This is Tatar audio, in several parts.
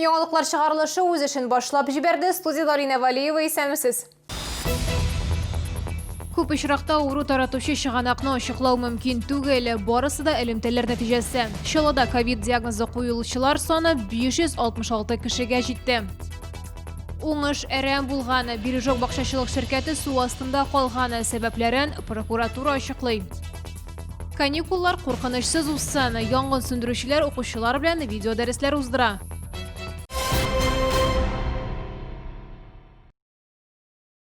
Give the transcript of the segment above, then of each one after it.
Яңалыклар чыгарылышы үз эшен башлап җибәрде. Студиядә Алина Валиева исәнмесез. Күп очракта авыру таратучы чыганакны ачыклау мөмкин түгел. Барысы да элемтәләр нәтиҗәсе. Чаллыда ковид диагнозы куелучылар саны 566 кешегә җитте. Уңыш әрәм булганы, Бережок бакчачылык ширкәте су астында калганы сәбәпләрен прокуратура ачыклый. Каникуллар куркынычсыз узсын, янгын сүндерүчеләр укучылар белән видеодәресләр уздыра.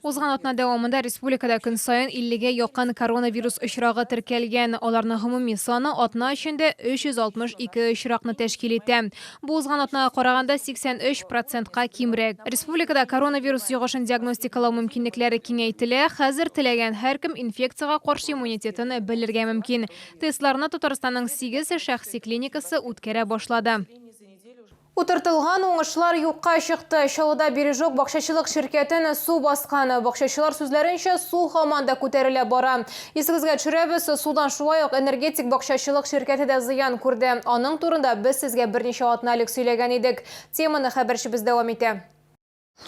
Узган атна дәвамында республикада көн саен 50-гә якын коронавирус очрагы теркәлгән. Аларның гомуми саны атна эчендә 362 очракны тәшкил итә. Бу узган атнага караганда 83 процентка кимрәк. Республикада коронавирус йогышын диагностикалау мөмкинлекләре киңәйтелә. Хәзер теләгән һәркем инфекциягә каршы иммунитетын белергә мөмкин. Тестларны Татарстанның сигез шәхси клиникасы үткәрә башлады. Утыртылган уңышлар юкка чыкты. Чаллыда Бережок бакчачылык ширкәтен су баскан. Бакчачылар сүзләренчә, су һаман да күтәрелә бара. Исегезгә төшерәбез, судан шулай ук Энергетик бакчачылык ширкәте дә зыян күрде. Аның турында без сезгә берничә атна элек сөйләгән идек. Теманы хәбәрчебез дәвам итә.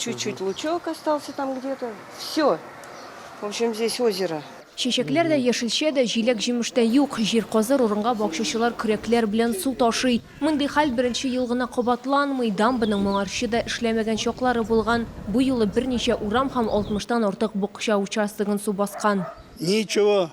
Чуть-чуть лучок остался там где-то. Все. В общем, здесь озеро. Чәчәкләр дә, яшелчә дә, җиләк-җимеш тә юк. Җир казыр урынга бакчачылар көрәкләр белән су ташый. Мондый хәл беренче ел гына кабатланмый. Дамбаның моңарчы да эшләмәгән чаклары булган. Бу юлы берничә урам һәм 60 тан артык бакча участогын су баскан. Ничего,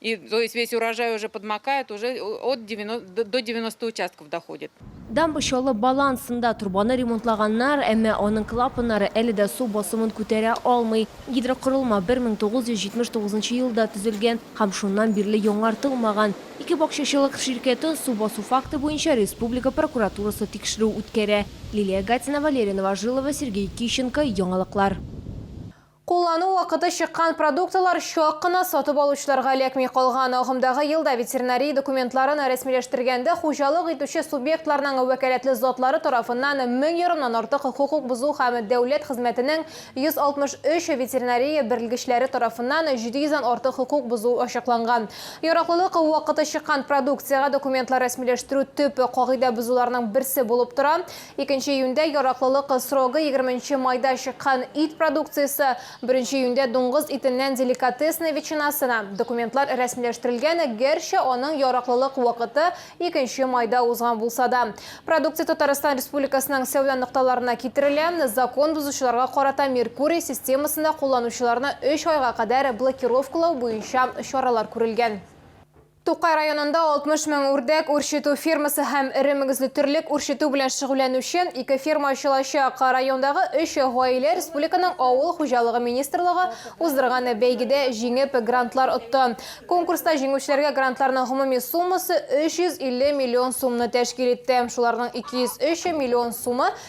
И, то есть весь урожай уже подмокает, уже от 90, до 90 участков доходит. Дамба чаллы балансында торбаны ремонтлаганнар, әмма аның клапаннары әле дә су басымын күтәрә алмый. Гидрокорылма 1979 елда төзелгән һәм шуннан бирле яңартылмаган. Ике бакчачылык ширкәтен су басу факты буенча республика прокуратурасы тикшерү үткәрә. Лилия Гатина, Валерия Новожилова, Сергей Кищенко, Яңалыклар. Куллану вакыты чыккан продуктлар чак кына сатып алучыларга эләкми калган. Агымдагы елда ветеринария документларын рәсмиләштергәндә хуҗалык итүче субъектларның вәкаләтле затлары тарафыннан мең ярымнан артык хокук бозу һәм дәүләт хезмәтенең 163 ветеринария берлгечләре тарафыннан 700 дән артык хокук бозу ачыкланган. Яраклылык вакыты чыккан продукциягә документлар рәсмиләштерү төп кагыйдә бозуларның берсе булып тора. Икенче июньдә яраклылык срогы егерменче майда чыккан ит продукциясе, беренче июньдә дуңгыз итеннән деликатесный ветчинасына документлар рәсмиләштерелгән, гәрчә аның яраклылык вакыты икенче майда узган булса да. Продукция Татарстан Республикасының сәүдә нокталарына китерелә, закон бозучыларга карата Меркурий системасында кулланучыларны өч айга кадәр блокировкалау буенча чаралар күрелгән. Тукай районында 60 мең үрдәк үрчетү фермасы һәм эре мөгезле терлек үрчетү белән шөгыльләнүче ике ферма ачылачак. Райондагы өч гаилә республиканың Авыл хуҗалыгы министрлыгы уздырган бәйгедә җиңеп, грантлар отты. Конкурста җиңүчеләргә грантларның гомуми суммасы 350 миллион сумны тәшкил итте. Шуларның 203 миллион сумы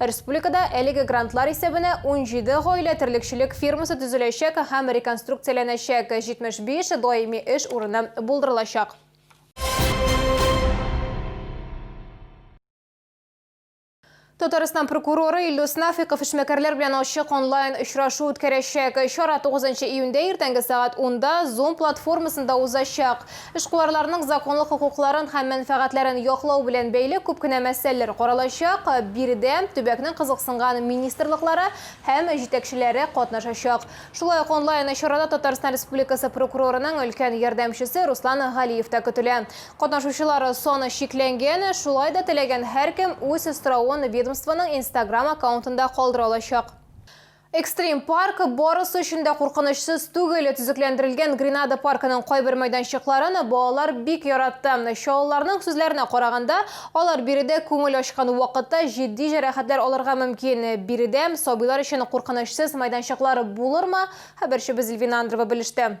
Республикада әлеге грантлар исәбенә 17 гаилә терлекчелек фермасы төзеләчәк һәм реконструкцияләнәчәк, 75 даими эш урыны булдырылачак. Татарстан прокуроры Илдус Нафиков эшмәкәрләр белән ачык онлайн очрашу үткәрәчәк. Чара 9 июньдә иртәнге сәгать 10 да Zoom платформасында узачак. Эшкуарларның законлы хокукларын һәм мәнфәгатьләрен яклау белән бәйле күп кенә мәсьәләләр каралачак, биредә төбәкнең кызыксынган министрлыклары һәм җитәкчеләре катнашачак. Шулай ук онлайн чарада Татарстан Республикасы прокурорының өлкән ярдәмчесе Руслан Галиев та көтелә. Катнашучылар саны чикләнгән, шулай да теләгән һәркем үз соравын ведомствоның инстаграм аккаунтында калдыра алачак. Экстрим парк барысы өчен дә куркынычсыз түгел. Төзекләндерелгән Гренада паркының кайбер мәйданчыкларын балалар бик яратты. Чаллыларның сүзләренә караганда, алар биредә күңел ачкан вакытта җитди җәрәхәтләр алырга мөмкин. Биредә сабыйлар өчен куркынычсыз мәйданчыклар булырмы? Хәбәрчебез Эльвина Андрова белеште.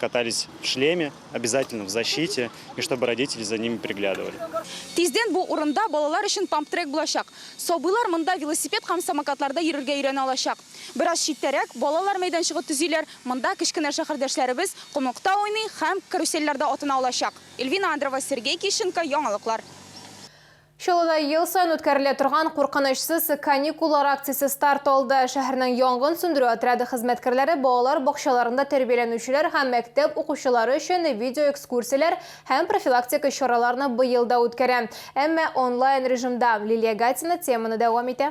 Катались в шлеме, обязательно в защите и чтобы родители за ними приглядывали. Тиздән бу урында балалар өчен памп-трек булачак. Сабыйлар монда велосипед һәм самокатларда йөрергә өйрәнә алачак. Бераз читтәрәк балалар мәйданчыгы төзиләр, монда кечкенә шәһәрдәшләребез комлыкта уйный һәм карусельләрдә атына алачак. Эльвина Андрова, Сергей Кищенко, яңалыклар. Чаллыда ел саен үткәрелә торган Куркынычсыз каникуллар акциясе старт алды. Шәһәрнең янгын сүндерү отряды хезмәткәрләре балалар бакчаларында тәрбияләнүчеләр һәм мәктәп укучылары өчен видеоэкскурсияләр һәм профилактика чараларны быел да үткәрә, әмма онлайн режимда. Лилия Гатина теманы дәвам итә.